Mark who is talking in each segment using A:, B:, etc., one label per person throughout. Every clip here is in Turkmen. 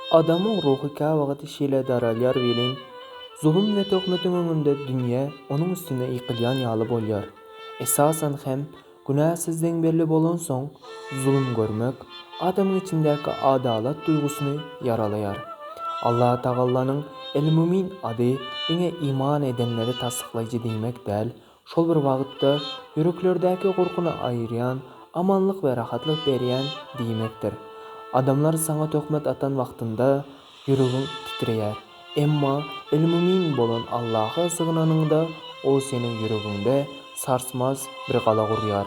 A: Adamyň ruhy käwagty şeýle daralýar welin, zulum we töhmetiň öňünde dünýe onuň üstüne ýykylýan ýaly bolýar. Esasan hem, günä sizden belli bolansoň, zulum görmek, adamyň içindäki adalat duýgusyny ýaralaýar. Allatagallanyň El-Mumin ady diňe iman edenleri tassyklaýjy diýmek däl, Şol bir wagtda, ýüreklerdäki gorkyny aýyrýan, amanlyk we rahatlyk berýän diýmekdir. Adamlar saňa töhmet atan wagtynda, ýüregiň titreýär. Emma El-Mumin bolan Allaha sygynanyňda, O seniň ýüregiňde sarsmaz bir gala gurýar.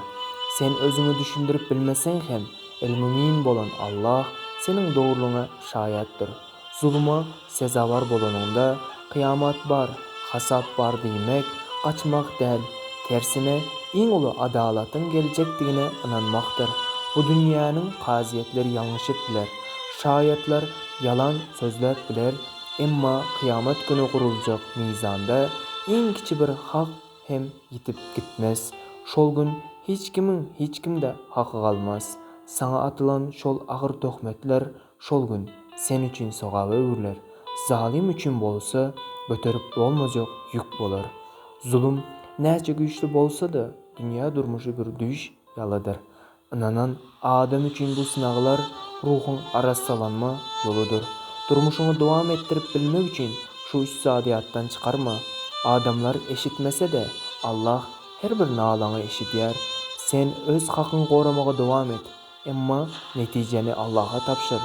A: Sen özüňi düşündirip bilmeseň hem, El-Mumin bolan Allah seniň dogrulygyňa şaýatdyr. Zuluma sezawar bolanyňda, kyýamat bar, hasap bar diýmek, gaçmak däl, tersine, iň uly adalatyň geljekdigine ynanmakdyr. Bu dünýäniň kazyýetleri ýalňyşyp biler, şaýatlar ýalan sözläp biler, emma kyýamat güni guruljak mizanda iň kiçi bir hak hem ýitip gitmez. Şol gün hiç kimiň hiç kimde haky galmaz. Saňa atylan şol agyr töhmetler Şol gün sen üçin sogaba öwrüler, zalym üçin bolsa göterip bolmajak ýük bolar. Zulum näçe güýçli bolsa-da, dünýä durmuşy bir düýş ýalydyr. Ynanan adam üçin bu synaglar ruhuň arassalanma ýoludyr. Durmuşyňy dowam etdirip bilmek üçin şu üç zady ýatdan çykarma, Adamlar eşitmese-de, Allah her bir nalaňy eşidýär. Sen öz hakyňy goramaga dowam et. Emma netijäni Allaha tabşyr,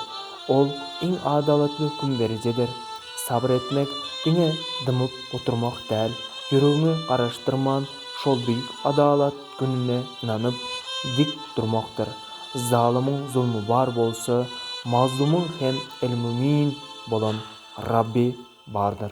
A: Ol iň adalatly hökümderijidir. Sabyr etmek diňe dymyp oturmak däl, ýüregiňi garaşdyrman şol beýik adalat gününe ynanyp, dik durmakdyr. Zalymyň zulmy bar bolsa, mazlumyň hem El-Mümyn bolan Rabby bardyr.